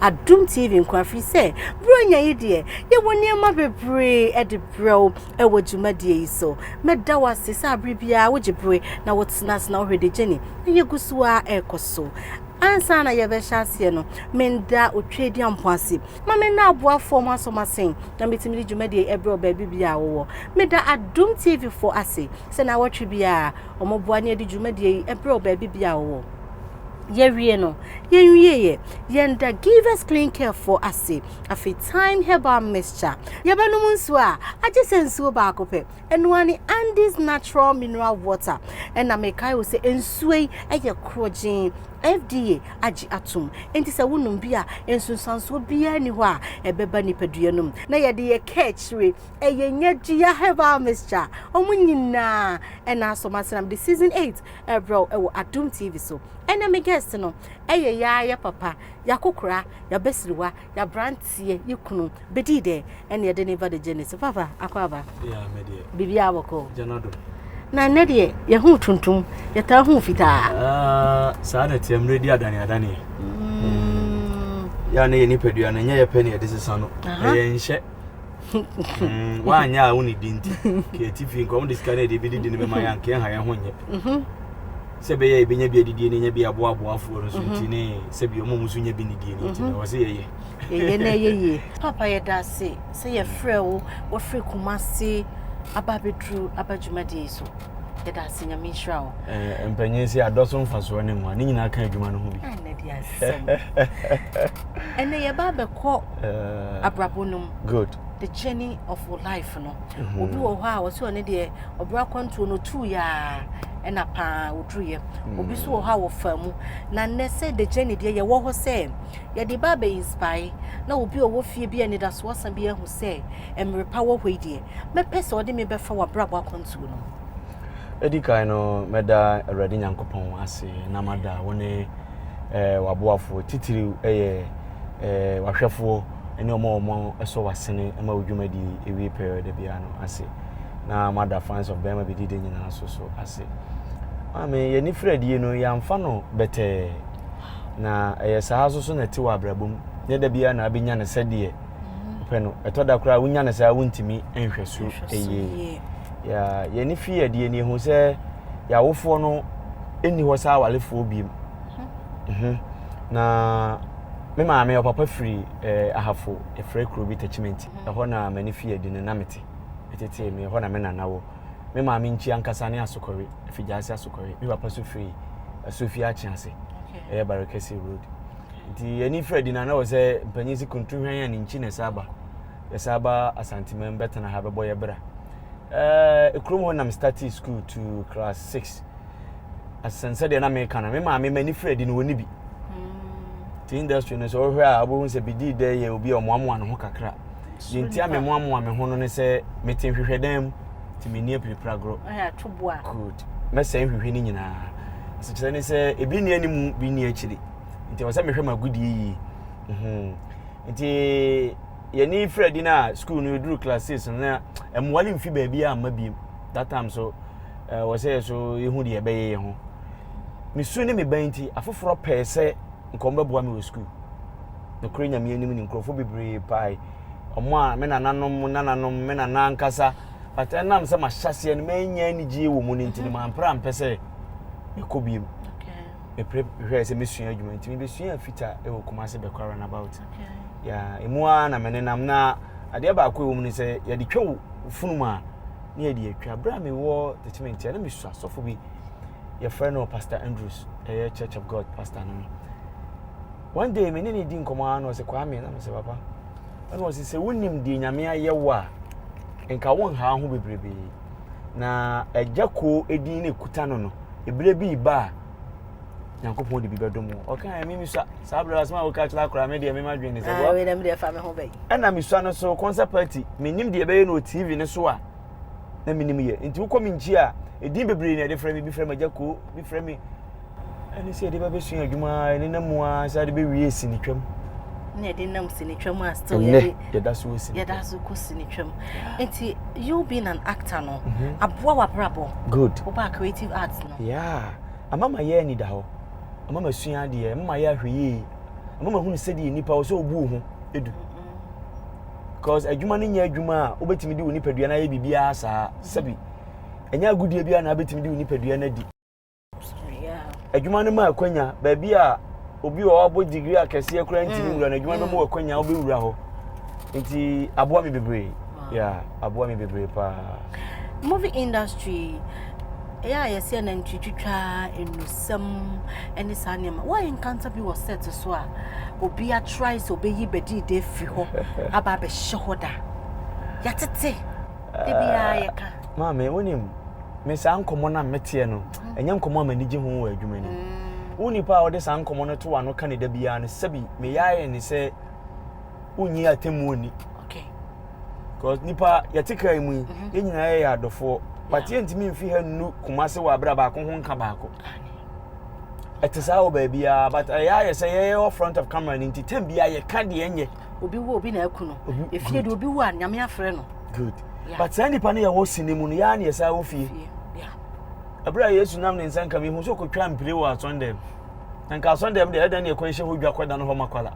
Adom TV nko ara firi sɛ Buronya yi deɛ yɛwɔ nneɛma bebree de brɛ wo wɔ dwumadie yi so. Mɛda wo ase sɛ abere biara wogye bere na wotena ase na wohwɛ de gyeni na yɛgu so ara ɛrekɔ so. Ansa na yɛbɛhyɛ aseɛ no, menda otwadi ampo ase ma me nna aboafoɔ ho asɔmasen na metumi de dwumadie ɛbrɛ wo baabi biara wowɔ. Meda Adom TV foɔ ase sɛ na awɔtwe biara wɔboa ne ɛde dwumadie yi ɛbrɛ wo baabi biara wowɔ. yɛwie no yɛnwieɛ yɛnda givers clean care foɔ ase afei time herbal mixture yɛbɛnom nsuo a agye sɛ nsuo baako pɛ ɛnoa ne andes natural mineral water ɛna mekae wo sɛ nsuo yi ɛyɛ korɔgyee fda agye atom nti sɛ wonom bi a nsunsuansoɔ biara ni hɔ a ɛbɛba nipadua no mu na yɛde yɛ kɛkyire ɛyɛ nyɛ dua herbal mixture ɔmo nyinaa ɛna asɔmasenam de season 8 Ɛbrɛw wɔ Adom TV so. Ɛnɛ me guest no ɛyɛ yaa yɛ papa, y'akokora, y'abasiriwa, y'abranteɛ, yɛ kunu, bedi dɛ ɛne ɛde ne ba de gyene so. Papa, akwaaba? Yeah, me deɛ. Biribiara bɔkɔɔ? Gyana do. Na ɛnɛ deɛ yɛhu tuntum, yɛtaa hu fitaa. Ah, saa na ɛteɛ mmerɛ di adane adaneɛ. Mm. Yɛ a na yɛ nipadua no, ɛnyɛ yɛ pɛ ne yɛde sesa no. Ɛyɛ nhyɛ. Mm, woanyɛ a wone di nti ka ɛti fie nka ɔmde sika no ɛde bɛdidi no bɛma yɛ anka ɛha yɛ ho nyɛ mhm. sɛ bɛyɛ ɛbɛnya bi adidie no nya bi aboaboafoɔ no so mhm. nti ne sɛ bi ɔma mu so nya bi ne die no nti no wɔ sɛ yɛyɛ yɛyɛ na ɛyɛ yie papa yɛda ase sɛ yɛfrɛ wo wɔfiri kuma se aba bɛduru aba dwumadie so yɛda ase nyame nhyira wo eh, mpanyin sɛ adɔ so mfasoɔ ne mmoa ne nyinaa ka adwuma no ho bi ɛnɛ yɛba bɛkɔ eh. abrabɔ no mu Good. The journey of your life no. Mm-hmm. Obi wɔ hɔ a wɔsɛ ɔne deɛ ɔbrɛ akwantuo no tu yaa ɛna paa ɔduruyɛ. Mm. Obi so wɔ hɔ a wɔfa mu. Na nnɛ sɛ the journey deɛ yɛwɔ hɔ sɛ yɛde ba abɛ inspire na obi a ɔwɔ fie bi a anidasoɔ sa bi ahu sɛ mmerɛ pa wɔ hɔ yi deɛ mɛpɛ sɛ ɔde me bɛfa wɔ abrabɔ akwantuo no. Edi kan no mɛda Awurade Nyankopɔn ase na mada wo ne eh, waboafoɔ titiriw ɛyɛ eh, wahwɛfoɔ ne wɔn a wɔsɔ w'asene ma wo dwumadi wie pɛɛ da biara no ase na moada fans of bɛrima bɛdi de nyinaa so so ase maame yɛni firadie no yɛamfa no bɛtɛɛ na ɛyɛ saa so so na ɛte wɔ abrabɔ mu nyɛ da biara na abɛnya no sɛdeɛ wopɛ no ɛtɔ da koraa wonya no saa wontumi nhwɛ so ɛyie yɛni fi adie no yɛhu sɛ yɛawofoɔ no ɛnni hɔ saa awalefoɔ biem mhm. na Me maame, ɔpapa firi eh, Ahafo, yɛfrɛ kuro bi Tachimenti. Mm-hmm. Ɛhɔ na m'ani fi adi no na mete. Ɛtetee me, ɛhɔ na me nana wɔ. Me maame nkyi ankasa ne Asokɔre, Afigyaase Asokɔre. Me papa so firi Asofie Akye ase, ɛyɛ Barekɛse Road. Nti ani firi adi na na wɔ sɛ mpanyin si kuntu hwɛn a ne nkyi na ɛsa aba. Yɛsa aba Asanteman bɛtena ha bɛbɔ yɛ bra. Ɛɛ, eh, ekurom hɔ nam startee school to class six. asen sɛdeɛ na meka no me maame m'ani firi adi no wɔni bi hmm. ti industry no sɛ wohwɛ a wobɛhu sɛ bidi dɛ yɛ obi a ɔmoamoa ne ho kakra deɛ nti a memoamoa me ho no ne sɛ mete nhwehwɛ dan mu nti menni apirapira gorɔ good mɛsɛe nhwehwɛ no nyinaa asekyerɛ ne sɛ ebi nni anim bi nni akyiri nti ɛwɔ sɛ mehwɛ m'agodie yie mhm. nti yɛne firi adi no a school no yɛduru class six no na mmoa no mfi baabi a mma biem that time nso ɛɛ wɔ sɛ so ehu deɛ ɛbɛyɛ yɛ ho me su ne me ban nti afoforɔ pɛɛ sɛ nkɔm bɛboa me wɔ sukuu nokorɛ nyame anim ne nkurɔfoɔ bebree paae ɔmo a me nananom mo nananom me nana ankasa but ɛnam sɛ mahyɛseɛ no manya anigyeɛ wɔ mu no nti no mampere ampɛ sɛ mekɔ biem mepere hwɛɛ sɛ mɛsua adwuma nti mebɛsuaa fita wɔ Kumase bɛkɔ runabout ya ɛmu ara na menenam na adeɛ baako ɛwɔ mu no sɛ yɛde twa wo funum a ne yɛde atwa berɛ a mewɔ tetementi a na mesu asɔfo bi yɛfrɛ no pastor andrews ɛyɛ church of god pastor no one day me ne ne di nkɔmmɔ ara na ɔsɛ kwaa me na mesɛ papa ɛna ɔsɛ sɛ wonim deɛ nyame ayɛ wo a nka wonhaa ho bebrebee Na agya kuo edin na ekuta no no, ebire bi reba a, Nyankopɔn de bi bɛdom wo. Ɔka yɛ mimi sua saa bere asɛm a woka kyerɛ akora me deɛ mema dwen ne sɛ wɔ. Ɛna me deɛ fa me ho bɛyi. Ɛna me sua no so concert party menim deɛ ɛbɛyɛ no wɔ TV no so a na menim yɛ. Nti wokɔ me nkyi a, edin bebree na ɛde frɛ me, bi frɛ me agya kuo, bi frɛ me Ɛne sɛ yɛde bɛbɛsua adwuma a ɛne nam mu a sɛ ade bɛwie sinitwam na yɛde nam sinitwam a still yɛde yɛda so sinitwam yɛda so kɔ sinitwam nti you being an actor no mhm. aboa w'abrabɔ good woba creative arts no yeah ama ma yɛ ani da hɔ ama ma sua adeɛ ama ma yɛ ahwɛ yie ama ma hunu sɛdeɛ nipa wɔ sɛ obu wo ho edu because adwuma no nyɛ adwuma a wobɛtumi de wo nipadua no ayɛ biribiara saa sɛbi ɛnyɛ agodie biara na wobɛtumi de wo nipadua no adi adwuma no ma akwanya baabi a obi a ɔabɔ digiri akɛseɛ koraa ntumi mm, wura no adwuma no bɛma mm. akwanya wobɛwura hɔ nti aboa me bebree ya aboa me bebree paa movie industry ɛyɛ a yɛsɛ nantwi twitwa nnusɛm ne saa nneɛma woayɛ nkanta bi wɔ set so a obi atrae sɛ ɔbɛyi bɛdii da afiri hɔ aba abɛhyɛ hɔ da yɛtete de biara yɛka maame wonim me saa nkɔmmɔ no a meteɛ no, ɛnyɛ nkɔmmɔ a m'ani gye ho wɔ adwuma no mu. Wo nipa a wode saa nkɔmmɔ no to w'ano ka ne da biara no, sɛbi meyae ne sɛ wonnye atemmuo nni. Because nipa yɛte kaa mu yi, mhm. yɛn nyinaa yɛyɛ adɔfoɔ. But yɛntumi mfi ha nnu koma se wɔ abira baako ho nka baako. Ɛte saa wɔ baabiara but ɛyɛ ayɛ sɛ yɛyɛ wɔ front of camera no nti tɛm biara yɛka deɛ ɛnyɛ. obi wu obi na aku no efie de obi wu a nyame afrɛ no good yeah. but saa nipa no yɛ wɔ sini mu no yɛ ani ɛsa wɔ fie ɛberɛ a yesu nam ne nsa nka mehu sɛ ɔkɔtwa mpire wɔ asɔndɛm na nka asɔndɛm deɛ ɛdɛn ne ɛkɔ nhyɛ hɔ dwa kɔda no hɔ makwala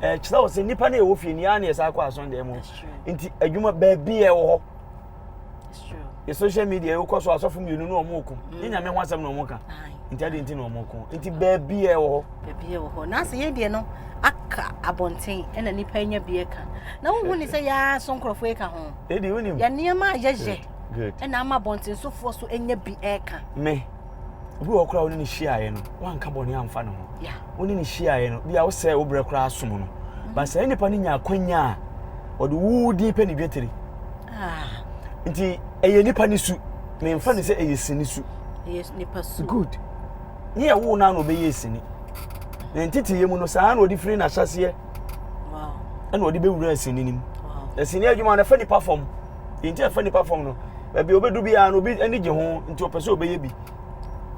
ɛkyerɛ wɔ sɛ nipa no yɛ wɔ fie no yɛ ani ɛsa kɔ asɔndɛm mu nti adwuma baabi yɛ wɔ hɔ yɛ social media yɛwokɔ so asɔfo mmienu na wɔn ko ne nyame ho asɛm na wɔn ka nti adi nti na wɔn ko nti baabi yɛ wɔ hɔ. baabi yɛ wɔ hɔ na asɛ yɛ deɛ no aka abɔnten ɛna nipa nya bi ɛka na wohu ne sɛ yɛa so nkurɔfoɔ ɛka ho yɛ nneɛma a yɛyɛ ɛna ama abɔnten sofoɔ so ɛnya bi ɛka. me obi wɔ hɔ koraa wo ne no hyiaeɛ no woanka bɔne amfa ne ho wo ne no hyiaeɛ no bia wosɛe wo berɛ koraa som no mhm. ba saa nnipa no nya akwanya a ɔde wo din pɛ ne dwetire ah. nti ɛyɛ nipa ne su memfa ne sɛ ɛyɛ sini su good ne yɛ wo no a na ɔbɛyɛ sini na nteteyɛ mu no saa na ɔde firi n'ahyɛseɛ ɛna ɔde bɛwura asini no mu asini adwuma no fa nipa fam Deɛ nti a ɛfa nipa fam no, baabi a obedu biara no, obi ani gye ho, nti ɔpɛ sɛ obɛyɛ bi.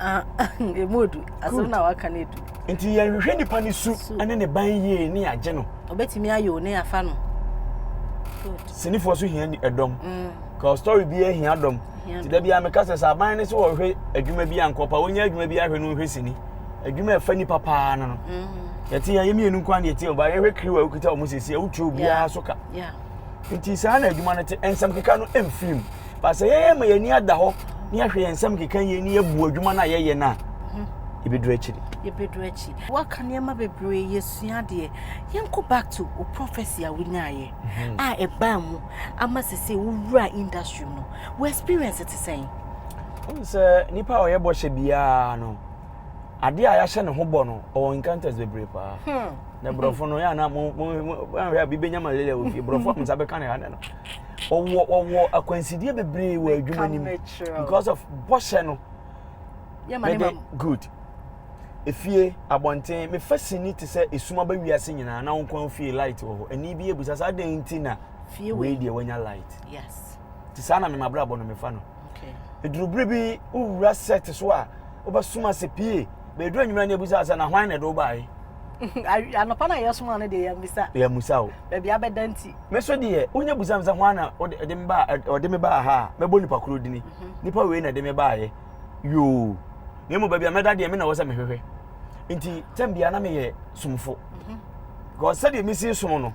Ah, emu odu. Asɛm na waka no edu. Nti yɛnhwehwɛ nipa ne su ne ne ban yie ne yɛagye no. Obetumi ayɛ o ne yɛafa no. Sinifoɔ so hia ɛdɔm. Mm. Ka story bi ahia dɔm. Ti da biara meka sɛ sɛ aban ne sɛ wɔhwɛ adwuma bi a nkɔpa wɔnyɛ adwuma bi ahwɛ no nhwɛ sini. Adwuma ɛfa nipa paa no no. Mm. Yɛte yɛn mmienu nko ara na yɛte ɔbaa yɛhwɛ kiri wɔ a wokita wɔn sɛsi a wotwa obiara so ka. Yeah. Enti saa na adwuma no te, nsɛm keka no mfiri mu. Ba sɛ yɛma yɛn ani ada hɔ na yɛahwɛ yɛn nsɛm keka yie na yɛbu adwuma no a yɛyɛ no a, yɛbɛduru akyiri. Yɛbɛduru akyiri. Waka nneɛma bebree, yɛsua adeɛ. Yɛnkɔ back to wo prophecy a wonyaeɛ mhm. a ɛbaa mu ama sɛ sɛ wowura industry mu no, wo experience te sɛn? Wohu sɛ nipa a ɔyɛ bɔhyɛ biara no, adeɛ a yɛahyɛ ne ho bɔ no, ɔwɔ encounters bebree paa. Hmm. na borɔfo no yɛ ana mo mo ahwɛ a bibɛnya malaria wɔ fie borɔfo a mo nsa bɛka ne ha no ɔwɔ ɔwɔ akwansideɛ bebree wɔ adwuma no mu because of bɔhyɛ no mede good efie abɔnten mefa sini te sɛ esum aba wiase nyinaa na wɔn kɔn fie light wɔ hɔ ɛni bi ebusa saa den ti na wei deɛ wɔnya light te saa na mema abrabɔ no mefa no. Eduru bere bi wowura sect so a, wobɛsom ase pie. Bɛyɛ du anwummerɛ ne abisa sɛ na hwan na ɛde wo baeɛ? Anɔpa no a yɛsoma no deɛ yɛmmisa. Yɛmmisa o. Baabi abɛda nti. Me so deɛ wonya bisa me sɛ hwan na ɔde me baa ɔde me baa ha a mɛbɔ nipa koro dini. Mhm. Nipa wei na ɛde me baeɛ yoo. Na mmom baabi a mɛda deɛ me na ɛwɔ sɛ mehwehwɛ. Nti tɛm biara na meyɛ somfo. Mhm. Because sɛdeɛ mesi som no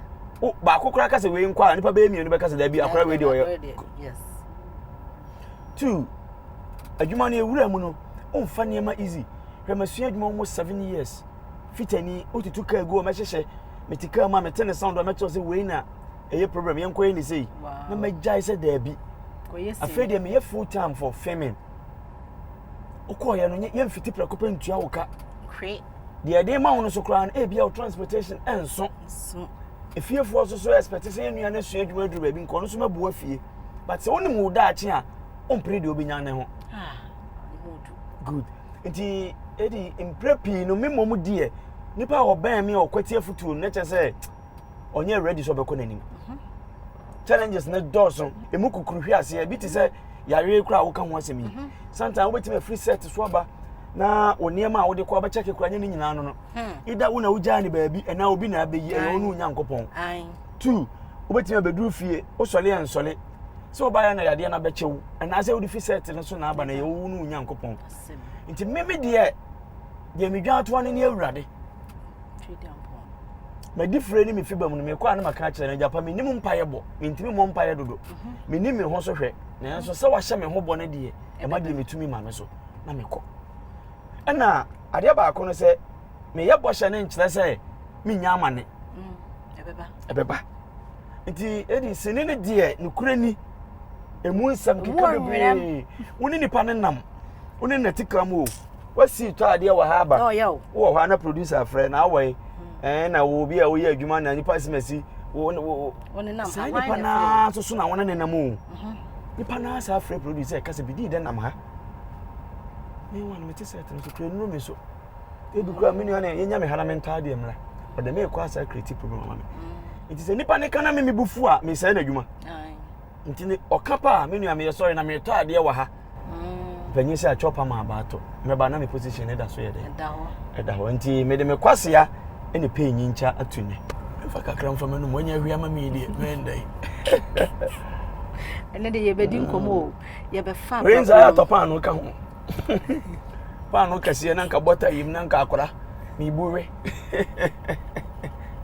baako koraa ka sɛ wei nkɔ a nipa bɛyɛ mmienu bɛka sɛ daabi akora wei deɛ ɔyɛ. Yes. Two, adwuma no ewura mu no, womfa nneɛma easy. Hwɛ masua adwuma almost seven years. Fitani, wotutu kaa gu hɔ, mɛhyehyɛ, mete kaa mu a mete ne sound a mɛkyerɛ sɛ wei na ɛyɛ problem, yɛnkɔyɛ ne sei. Na magyae sɛ daabi. Afei deɛ meyɛ full time for filming. Wokɔɔyɛ no, yɛmfiti prɛko pɛ ntua wo ka. deɛ yɛde rema wo no so koraa no ebia wo transportation nso efiefoɔ nso so expect sɛ yɛn nua no asua adwuma aduru baabi nkɔɔ no so mɛbu afie but sɛ wonim wo daakye a wompere deɛ wobɛnya ne ho ah, good nti ɛdi mprɛ pii no me mmom deɛ nipa a ɔbɛn me a ɔkwati afutuo no na kyɛ sɛ ɔnyɛ ready sɛ ɔbɛkɔ n'anim challenges ne dɔɔso emu kukuru hwe aseɛ ebi te sɛ yareɛ kura a woka ho asɛm yi sometimes wobɛtumi afiri set so aba na wo nneɛma a wode kɔ abɛkyɛke kora nyɛ ne nyinaa no no ida wo na wogyaa ne baabi ɛna obi na abɛyi ɛyɛ wo ne onyankopɔn two wobɛtumi abɛduru fie wosɔle yɛ nsɔle sɛ wobaeɛ na yadeɛ no abɛkyɛ wo anaasɛ wode fi set no so na aba na ɛyɛ wo ne onyankopɔn nti meme deɛ deɛ medwa atoa no ne awurade Twedeampɔn. Madi fire ne me fi ba mu no mekɔ a na maka akyerɛ no agya pa menim mpaeɛ bɔ mentumi mmɔ mpaeɛ dodo mhm. menim me ho so hwɛ nanso sɛ wahyɛ me ho bɔ no deɛ ɛma deɛ metumi ma me so na mekɔ ɛna adeɛ baako no sɛ meyɛ bɔhyɛ no nkyerɛ sɛ menya amane mm, ɛbɛba nti ɛdi sini no deɛ nokorɛ ni ɛmu nsɛm keka bebree wo ne nipa no nam wo ne natikra mu o wasi tɔ adeɛ wɔ ha aba wowɔ hɔ a na producer frɛ na awɔe hmm. ɛn na wɔ obi a woyɛ adwuma na nipa si ma si saa nipa naa nso so na wɔn nenam o mhm. nipa naa saa frɛ producer ɛka sɛ bidii dɛ nam ha ne wa no mete sɛ ɛtɛm kekere nnuro mi so ebi kura mi nua na yɛnya mi ha na mi ntaa deɛ mmra ɔdɛ mi ekɔ asa creative program ama mi nti sɛ nipa ne kana mi mi bu fu a mi sɛ ɛna adwuma. nti ne ɔka paa me nua meyɛ sɔre na meretɔ adeɛ wɔ ha panyin sɛ atwa ɔpam a baato mɛba na me position ne da so yɛ dɛ ɛda hɔ nti mede me kwasea ne pɛi nyinkyɛ ato nnɛ mfa kakra mfa m'anom wanya ahwia ma me deɛ mɛndɛ ɛnɛ de yɛbɛdi nkɔmmɔ o yɛbɛfa rensa atɔ paa no ka ho paano kɛseɛ na nka bɔta yim na nka akora mebu we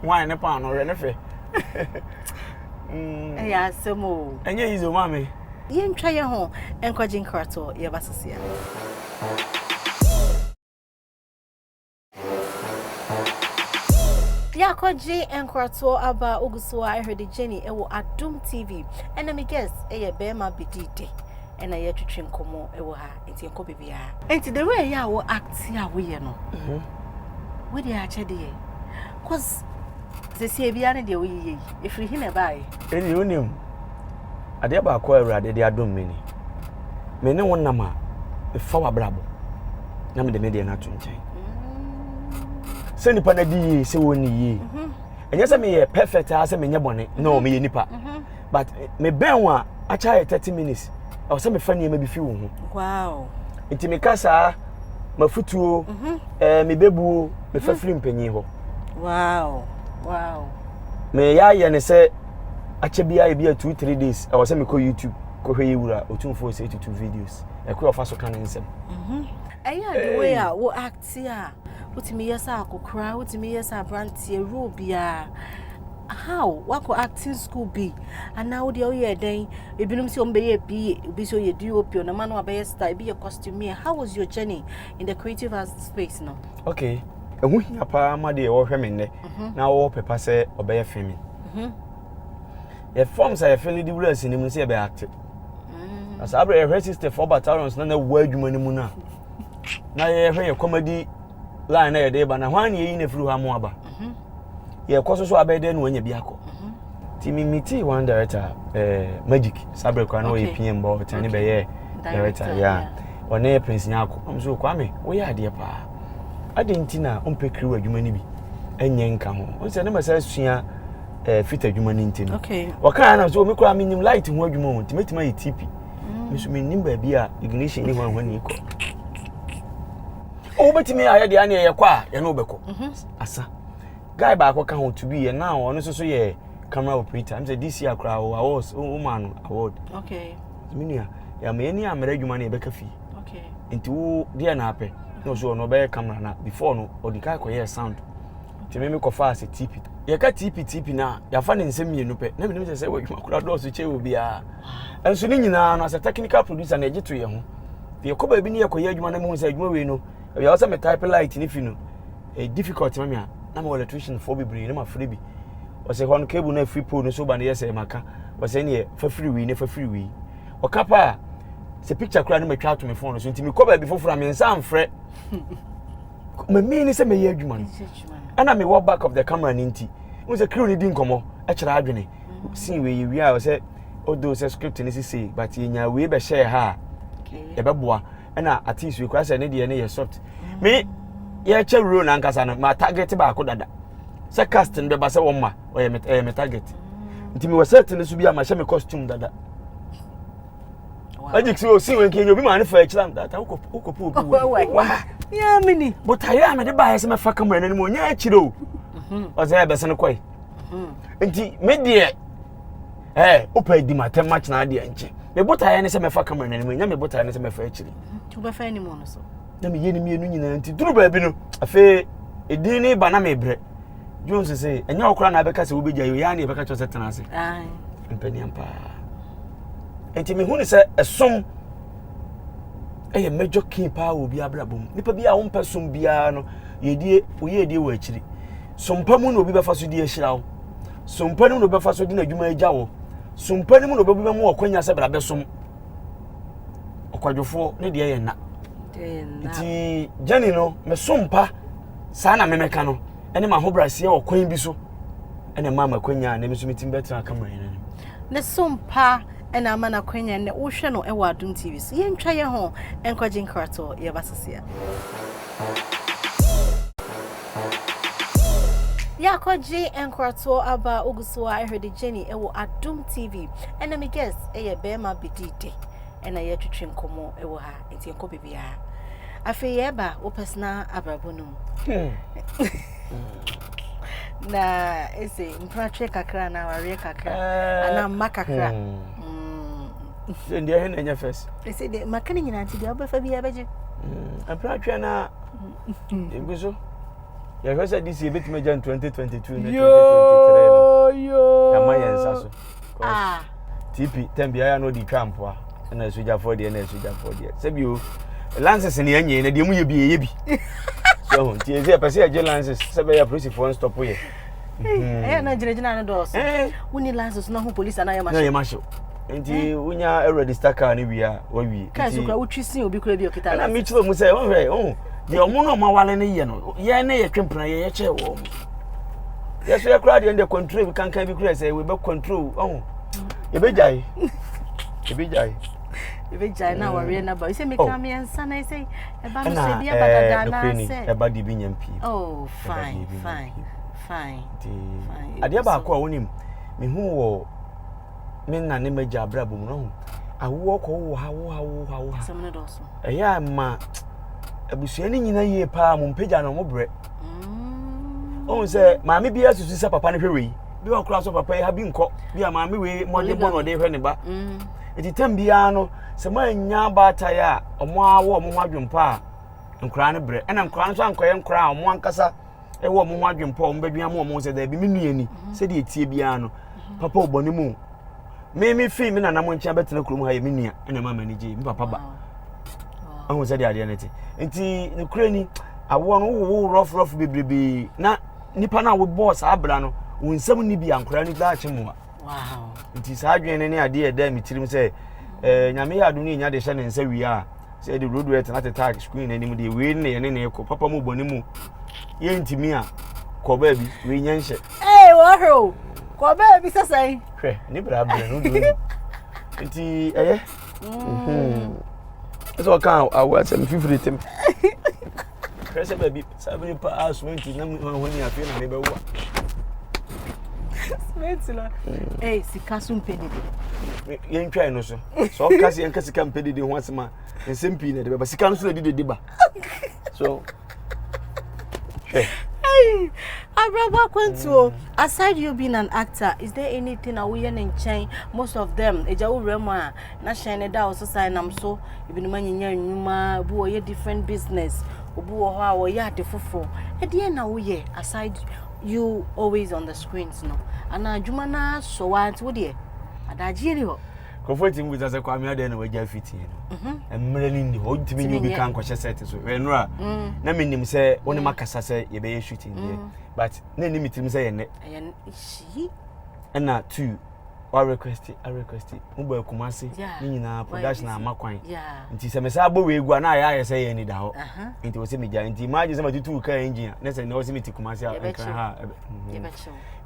wine ne paano hwɛ ne fɛ mm. ɛyɛ asɛm o ɛnyɛ yizo ma me yɛntwa yɛ ho nkɔgye nkratoɔ yɛba sesia Y'akɔgye nkoratoɔ aba wogu so a ɛhwɛde Jenny ɛwɔ Adom TV ɛna me guest ɛyɛ bɛrima bɛdi dɛ ɛna yɛtwetwe nkɔmmɔ ɛwɔ ha nti ɛnkɔ baabiara. Nti the way yɛ a wo act a woyɛ no mhm. wo deɛ akyɛdeɛ cause sɛsie biara ne deɛ woyeyɛ yi ɛfiri he na ɛbaeɛ ɛne wonim Adeɛ baako a Awurade de adom me ni, Me ne wo nam a, mefa w'abrabɔ na mede me deɛ no ato nkyɛn. Sɛ nnipa no adi yie, sɛ wɔnni yie. Ɛnyɛ sɛ meyɛ perfect a sɛ menyɛ bɔne, no, meyɛ nipa. But mebɛn wo a, akyɛ ayɛ 30 minutes, ɛwɔ sɛ mefa nneɛma bi fi wo ho. Wow. Nti meka saa, mafutuo, ɛɛ mebɛbuo, mefa firi mpanyin hɔ. Wow. Wow. Meyɛ ayɛ ne sɛ akyɛ biara ebi a two three days ɛwɔ sɛ mekɔ youtube kɔhwɛ yɛ wura otumfoɔ sɛ tutu videos ɛkoro ɔfa so ka ne nsɛm mhm. ɛyɛ the way a wo acte a wotumi yɛ sɛ akokora wotumi yɛ sɛ aberanteɛ role biara how wakɔ acting school bi anaa wodeɛ woyɛ dɛn ebinom sɛ ɔm bɛyɛ pie obi sɛ ɔyɛ dop ɔnama no abɛyɛ star ebi yɛ costumier how was your journey in the creative arts space no okay ɛho hia paa ma deɛ wɔhwɛ me nnɛ mhm. na wɔwɔ pɛpa sɛ ɔbɛyɛ femi Mhm. Yɛ form sɛ yɛfɛ no de wura asinim no sɛ yɛbɛyɛ ate. Mm. Na saa berɛ yɛhwɛ sister four battalions na na ɛwɔ adwuma no mu no a na yɛhwɛ yɛ comedy line na yɛde ba na hwan ne yɛyi no afiri hɔ ama aba. Mhm. Yɛkɔ so so abɛyɛ dɛ na wanya bi akɔ. Mhm. Nti me metii one director eh, magic saa berɛ koraa na ɔyɛ Okay. PM bɔ ɔtɛne Okay. bɛyɛ director Director, yeah. yeah. ɔne Prince Nyako. Ɔm so Kwame woyɛ adeɛ paa. Adɛn nti na wompɛ kiriw adwuma no bi nyɛ nka ho? Wo sɛ ne masa asua eh, fit adwuma no nti no. Wɔkaa na so, me koraa menim light ho adwuma o, nti mɛtumi ayɛ TP. Mm. Me so menim baabi a ignition ne hwanhwa ni kɔ. Wobɛtumi ayɛ deɛ ne ɛyɛ kɔ a, yɛne wobɛkɔ. Mhm. Asa. Guy baako ka ho to bi yɛ now, ɔno nso so yɛ camera operator. I'm say this year koraa, awards, womaa no award. Okay. Me nua, yɛama yɛni ammerɛ adwuma no yɛbɛka fie. okay nti wo deɛ na apɛ na ɔsɛ ɔno ɔbɛyɛ camera na before no ɔdi kan kɔyɛ sound nti me mekɔfa ase tp yɛka tp tp no a yɛafa ne nsɛm mmienu pɛ na menim sɛ sɛ wadwuma kora dɔɔso kyɛ wɔ biara nso ne nyinaa no sɛ technical producer na ɛgye to yɛ ho yɛkɔ baabi ne yɛkɔyɛ adwuma no mehu sɛ adwuma wei no ɛyɛ sɛ me type light ne fi no ɛyɛ eh, difficult ma me a na mewɔ electrician foɔ bebree na mafrɛ bi ɔsɛ hɔ no cable no afiri pole no so ba no yɛ sɛ maka ɔsɛ neɛ fa firi wei ne fa firi wei ɔka pa a sɛ picture koraa no matwa ato me phone so nti mekɔ baabi foforɔ a me nsa mfrɛ mamii ne sɛ mɛyɛ adwuma no ɛna mewɔ back of the camera no nti wo sɛ crew no di nkɔmmɔ ɛkyerɛ adwene mm. sin wei yɛwie a sɛ although sɛ script no sisei but yɛnya wei bɛhyɛɛ ha a ɛbɛboa ɛna atis wei koraa sɛ ne deɛ ne yɛ soft mm. me yɛkyɛ role no ankasa no ma target baako dada sɛ cast no bɛba sɛ wɔma ɔyɛ me ɛyɛ me target nti mewɔ set no so bi a mahyɛ me costume dada magic sɛ ɔsi wɔ nkɛnyɛ obi maa ne fa akyira data wokɔpɛ obi wɔ wa yɛmini botaeɛ a mede baeɛ sɛ mɛfa kama ɛnanim ɔnyɛ akyirɛ o mhm. ɔsɛ ɛbɛsɛ no kɔe mhm. nti me deɛ ɛ wopɛ adi matɛm matena adeɛ nkyɛ me botaeɛ ne sɛ mɛfa kama ɛnanim ɛnyɛ me botaeɛ ne sɛ mɛfa akyiri mhm. na meyɛ no mmienu nyinaa nti duru baabi no afei ɛdin ne ba na mebrɛ jones sɛ ɛnyɛ wo koraa na abɛka sɛ wobɛgya yi yɛa ne yɛbɛka kyerɛ sɛ tena ase mpaniam paa nti mehu ne sɛ ɛsom ɛyɛ major key paa wɔ obi abrabɔ mu nipa bi a wompɛ som biara no yɛdie woyɛ adie wɔ akyiri sompa mu na obi bɛfa so di ahyira wo sompa no mu na obi bɛfa so di n'adwuma agya wo sompa no mu na obi bɛma wɔ kwanya sɛ bra bɛsom ɔkwadwofoɔ ne deɛ yɛ nna nti gyani no mesompa saa na memɛka no ne m'ahobrɛaseɛ wɔ kwan bi so ɛna ɛmaa m'akwanya a na me nso metumi bɛtena aka mmerɛ no ne so mpa ɛna ama no akwanya nnɛ wohwɛ no ɛwɔ Adom TV so yɛntwa yɛ ho nkɔgye nkratoɔ yɛba sesea yɛakɔgye nkratoɔ aba wogu so a ɛhwɛ de Jenny ɛwɔ Adom TV ɛna me guest ɛyɛ bɛrima bɛdi de ɛna yɛtwetwe nkɔmmɔ wɔ ha nti yɛnkɔ baabiara afei yɛreba wo personal abrabɔ no mu na ɛsɛ mpratwe kakra na awareɛ kakra eh, anaa mma kakra hmm. Hmm. sɛ deɛ ɛhe na ɛnyɛ fɛs ɛsɛ deɛ maka no nyinaa nti deɛ wobɛfa biaa bɛgye hmm. mpratwe no a ɛgu so yɛhwɛ sɛ de si yɛbɛtumi agya 2022 no 2023 no ɛma yɛn nsa so ah. tp tɛm biara na ɔde twa mpoa ɛna asogyafoɔ deɛ ɛna asogyafoɔ deɛ sɛbio lances ne ɛnyɛ na deɛ mu yɛ bi ɛyɛ bi so ho nti ɛsɛ ɛpɛ sɛ ɛgye lances sɛ bɛyɛ apolisifoɔ nstɔpo yɛ hmm. ɛyɛ na gyinagyina no dɔɔso eh. woni lances na ho police anayɛ mahye na yɛ mahye nti eh. wonya eh, register car no wie a wawie kaa so kora wotwi sin obi kora bi ɔkita lances ɛna mekyerɛ mu sɛ ɔhwɛ ɔho deɛ ɔmo na ɔmo awale no yɛ no yɛn ne yɛtwe mpena yɛn yɛkyɛ wɔ ɔmo yɛsɛ yɛ koraa deɛ ɛnde control bi kankan bi kura sɛ webɛ control ɔho yɛbɛgyae yɛbɛgyae yɛbɛgyae na awareɛ no aba sɛ meka oh. mmiɛnsa na sɛ ɛba no sɛ bi ɛba dada anaasɛ ɛba deɛ bi nya mpie oh fine fine fine adeɛ baako a wonim mehu wɔ me nna ne magya abrabɔ mu no ho awoɔ kɔ wowo ha wowo ha wowo ha wowo ha Ɛyɛ a ma abusua no nyina yie paa mo mpagya no mo brɛ ɔhu sɛ maame bi asusu sɛ papa no hwɛ wei bi wɔ koraa so papa yi ha bi nkɔ bi a maame wei mmɔden bɔ na ɔde hwɛ ne ba ɛti mm. tam biara no sɛ moannya baataeɛ a ɔmo awɔ ɔmo ho adwempa a nkoraa no brɛ ɛna nkoraa no nso ankɔyɛ nkoraa a ɔmo ankasa ɛwɔ ɔmo ho adwempa a ɔmo bɛdwen ama ɔmo sɛ daabi me nua ni mm-hmm. sɛdeɛ ɛtie biara no mm-hmm. papa ɔbɔ ne mu me me fii me nana mo nkyɛn bɛtena kurom ha yɛ me nua ɛna ɛma m'ani gye me papa ba ahu sɛ deɛ adeɛ no te nti nokorɛ ni awoɔ no wowowo rɔforɔfo bebrebee na nipa no a wobɔɔ saa bra no wo nsɛm ni bi ankoraa no koraa kye mmoa nti saa adwene no ne adeɛ ɛda me tirim sɛ eh, nyame yɛ adom no yɛnya de hyɛ ne nsa wie a sɛ yɛde duroduo ɛtenate tag screen n'anim deɛ wei ne yɛne ne kɔ papa mu bɔne mu yɛntumi a kɔ baabi wei nyɛ nhyɛ ee wɔhwɛ o kɔ baabi sɛ sɛn hwɛ ne bra brɛ no duro ni nti ɛyɛ ɛsɛ ɔka awɔ asɛm fifiri tem Hwɛ sɛ baabi saa bere paa sumenti nam ahoni afei na mebɛwo a. Sumenti na ɛyɛ eh, sika so mpɛ dede. Yɛntwae no so. Sɛ ɔka sɛ yɛnka sika mpɛ dede ho asɛm a nsɛm pii na ɛde bɛba. Sika no so na ɛde dede ba. So hwɛ. Abrabwa kwantuo. Mm. Aside you being an actor, is there anything a woyɛ ne nkyɛn most of them? Ɛgya wo wura mu a Na hyɛn no da hɔ so saa nam so ebinom anyinya nnwuma obi wɔ yɛ different business obi wɔ hɔ a wɔyɛ ade foforɔ ɛdeɛ na woyɛ aside you always on the screens no anaa adwuma no asɔ wo ara nti wo deɛ adagyeɛ ni hɔ nkurɔfoɔ tumi bisa sɛ kwame adɛn na wagya fitie no mm-hmm. mmerɛ no nni hɔ wotumi nyɛ obi ka nkɔhyɛ sɛte so ɛnora mm. na menim sɛ wo ne mm. makasa sɛ yɛbɛyɛ shooting deɛ mm. but na ɛni metirim sɛ yɛnnɛ ɛna two wa request a request mo bɔ akumase ne nyinaa production ama kwan nti sɛ mesan bɔ wei gu a na ayɛ ayɛ sɛ yɛ ani da hɔ nti wɔ sɛ megya nti imagine sɛ matutu kaa engine a na sɛ na wɔ sɛ mete kumase a nkran ha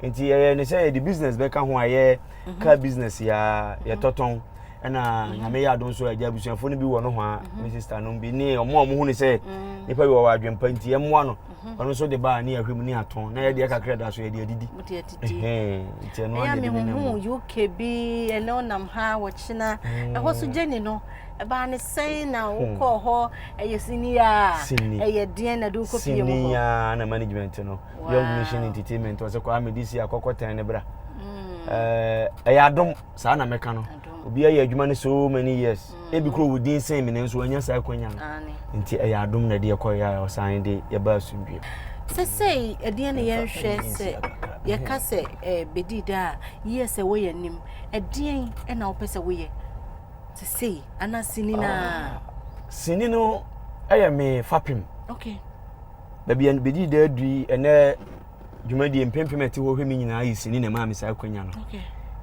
nti yɛyɛ ne sɛ yɛde business bɛka ho a yɛ car business ya yɛtɔtɔn ɛna nyame yɛ adom so agya abusuafo no bi wɔ no ho a me sister no bi ne ɔmo a ɔmo hu ne sɛ nipa bi wɔ wɔ adwempa nti ɛmoa no ɔno nso de baa ne ahwɛ mu ne atɔn na yɛdeɛ kakra da so yɛde adidi nti ɛno ayɛ de ne mu uk bi ɛnɛ ɔnam ha wɔkyena mm. ɛhɔ so gyeni no ɛbaa ne sɛn na hmm. wokɔɔ hɔ ɛyɛ sini a ɛyɛ deɛn na de wokɔ pie mu hɔ a na management no young nation entertainment ɔsɛ kɔ amedi si akɔkɔ tɛn ne bra hmm. ɛyɛ adom saa na mɛka no obi ayɛ adwuma no so many years ebi kura owu din sɛn mi nanso wanya saa akwanya no nti ɛyɛ adom na ɛde ɛkɔ yɛ a ɔsan de yɛba asomdwe sɛsɛi ɛdeɛ ne yɛnhwɛ sɛ yɛka sɛ eh, bɛdi da a yiyɛ sɛ woyɛ anim ɛdeɛn ɛna wopɛ sɛ woyɛ sɛsɛi ana sini no a sini no ɛyɛ me fapem okay. baabi a bɛdi da adui ɛnɛ dwumadie mpempem ɛte hɔ hwɛ me nyinaa yɛ sini na ɛmaa me saa akwanya no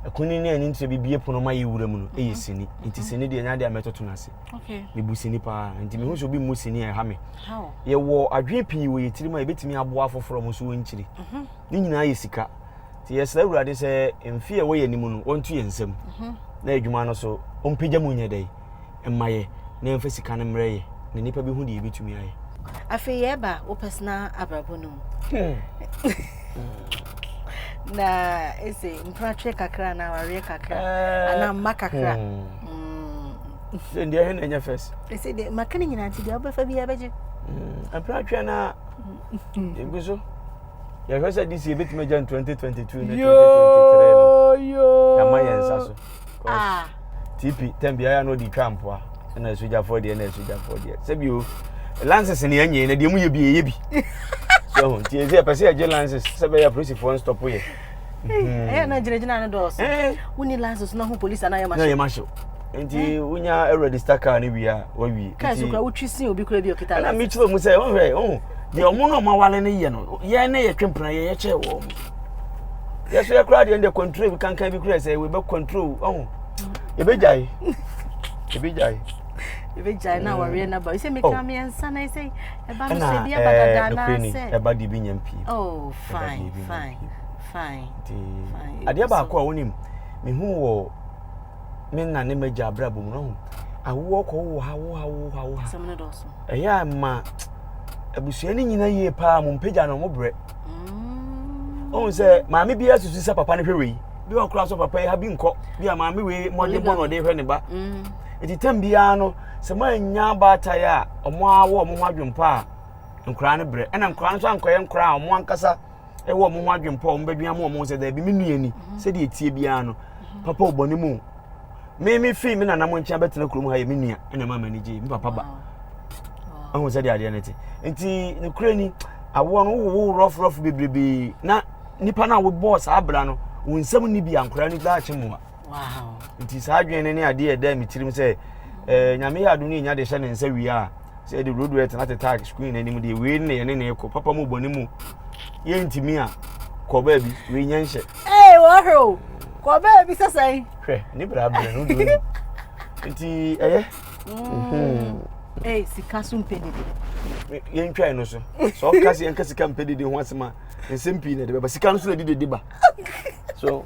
ɛkuni ne ani nkyerɛ bibie pono ma yɛ wura mu no ɛyɛ sini nti sini deɛ ɛnya deɛ mɛtoto no ase mebu sini paa nti mehu sɛ obi mmu sini a ɛha me yɛwɔ adwene pii wɔ yɛ tirim a yɛbɛtumi aboa afoforɔ mo so wɔnkyiri mhm. ne nyinaa yɛ sika nti yɛsrɛ awurade sɛ mfe a ɛwɔ yɛ anim no wɔnto yɛ nsam mhm. na adwuma no so ɔmpagya mu nyɛ dɛn mma yɛ na yɛmfa sika no mmrɛ yɛ na nnipa bɛhu deɛ yɛbɛtumi ayɛ. Afei yɛreba wo personal abrabɔ no mu. na ɛsɛ mpratwe kakra na awareɛ kakra eh. anaa mma kakra. Hmm. Hmm. Sɛ deɛ ɛhɛ na ɛnyɛ fɛs. Ɛsɛ deɛ maka no nyinaa nti deɛ wobɛfa biara bɛgye. Hmm. Mpratwe no a ɛgu so. Yɛhwɛ sɛ de si yɛbɛtumi agya no 2022 ne 2023 no. Yɛama yɛn nsa so. Ah. TP tɛm biara na ɔde twa mpoa ɛna asogyafoɔ deɛ ɛna asogyafoɔ deɛ sɛbi o lances ne ɛnyɛ na deɛ mu yɛ bi ɛyɛ bi so ho nti ɛsɛ ɛpɛ sɛ ɛgye lances sɛ bɛyɛ apolisifoɔ nstɔpo yɛ hmm. ɛyɛ na gyinagyina no dɔɔso eh. woni lances na ho polisi anaa yɛ mahyɛ yɛ mahyɛ nti eh. wonya ɛregister car no wie a wawie kaa so kora wotwi sin obi kora bi ɔkita lances ɛna mekyerɛ mu sɛ ɔhwɛ ɔho deɛ ɔmo na ɔmo awale no yɛ no yɛn ne yɛtwe mpena yɛ yɛkyɛ wɔ ɔmo yɛ so yɛ koraa deɛ ɛnde control bi kankan bi kura sɛ wei bɛ control ɔho ebe gyae ebe gyae. ebe gyae na awareɛ na ba sɛ meka oh. mmiɛnsa na sɛ ɛba no sɛ bi ɛba dada na sɛ ɛba de bi nya mpie. oh fine fine fine. fine adeɛ baako a wɔnim mehu wɔ me nna ne m'agya abrabɔ mu no ho awoɔ kɔ wo ha wo ha wo ha wo ha ɛyɛ a ma abusua no nyina yie paa mo mpagya no mo brɛ. mm. ohun sɛ maame bi asusu sɛ papa no hwɛ wei bi wɔ koraa so papa yi ha bi nkɔ bi a maame wei mmɔden bɔ na ɔde hwɛ ne ba mm. eti tɛm biara no sɛ mo anya baatae a wɔn awɔ wɔn ho adwempa a nkoraa no brɛ ɛna nkoraa no so ankɔyɛ nkoraa a wɔn ankasa ɛwɔ wɔn ho adwempa a wɔn bɛdwin ama wɔn sɛ dɛbi mi nua ni mm-hmm. sɛdeɛ etie biara no mm-hmm. papa ɔbɔ ne mu. me me fii me nana mo nkyɛn bɛtena kurom ha yɛ me nua ɛna ɛma m'ani gye me papa ba ahu sɛ deɛ adeɛ no te nti nokorɛ ni awoɔ no wowowo rɔforɔfo bebrebee na nipa no a wobɔɔ saa abira no wo nsɛm ni bi ankoraa no koraa akye mmoa nti saa adwene no ne adeɛ ɛda me tirim sɛ eh, nyame yɛ ado no ɛnya de hyɛ ne nsa wie a sɛ yɛde road wet na tetag screen anim deɛ wei ne yɛne ne ɛkɔ papa mu bɔne mu yɛntumi a kɔ baabi wei nyɛ nhyɛ Ee, wɔhwɛ o. Kɔ baabi sɛ sɛn. Hwɛ, ne bra brɛ no woduru ni. Nti ɛyɛ. Mm. Ee, sika so mpɛ dede. Yɛntwae no so. Sɛ ɔka sɛ yɛnka sika mpɛ dede ho asɛm a, nsɛm pii na ɛde bɛba. Sika no so na ɛde dede ba. So,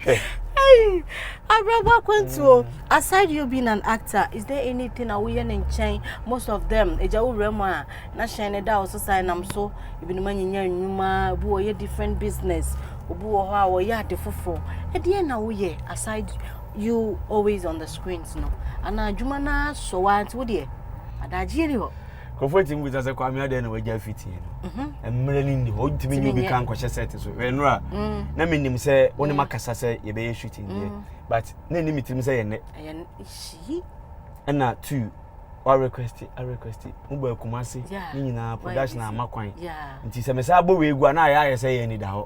hwɛ. Hey, Abrabwa Kwantuo, mm. aside you being an actor, is there anything a woyɛ ne nkyɛn most of them? Ɛgya wo wura mu a. na hyɛn no da ɔso saa nam so ebinom anyinya nnwuma obi wɔ yɛ different business obi wɔ hɔ a wɔyɛ ade foforɔ ɛdeɛ na woyɛ aside you always on the screens no anaa adwuma no asɔ wo ante wo deɛ adagyeɛ ni hɔ nkurɔfoɔ atumi bisa sɛ kwame adeɛ na wagya afitie no mhm. mmerɛ no nni hɔ wotumi ne obi ka nkɔhyɛ sɛt so ɛno a mm. na menim sɛ wo ne mm. makasa sɛ yɛbɛyɛ shooting deɛ mm. but na ɛni metirim sɛ yɛnnɛ ɛna two wa request a request mo bɔ akumase ne nyinaa production ama kwan nti sɛ mesan bɔ wei gu a na ayɛ ayɛ sɛ yɛ ani da hɔ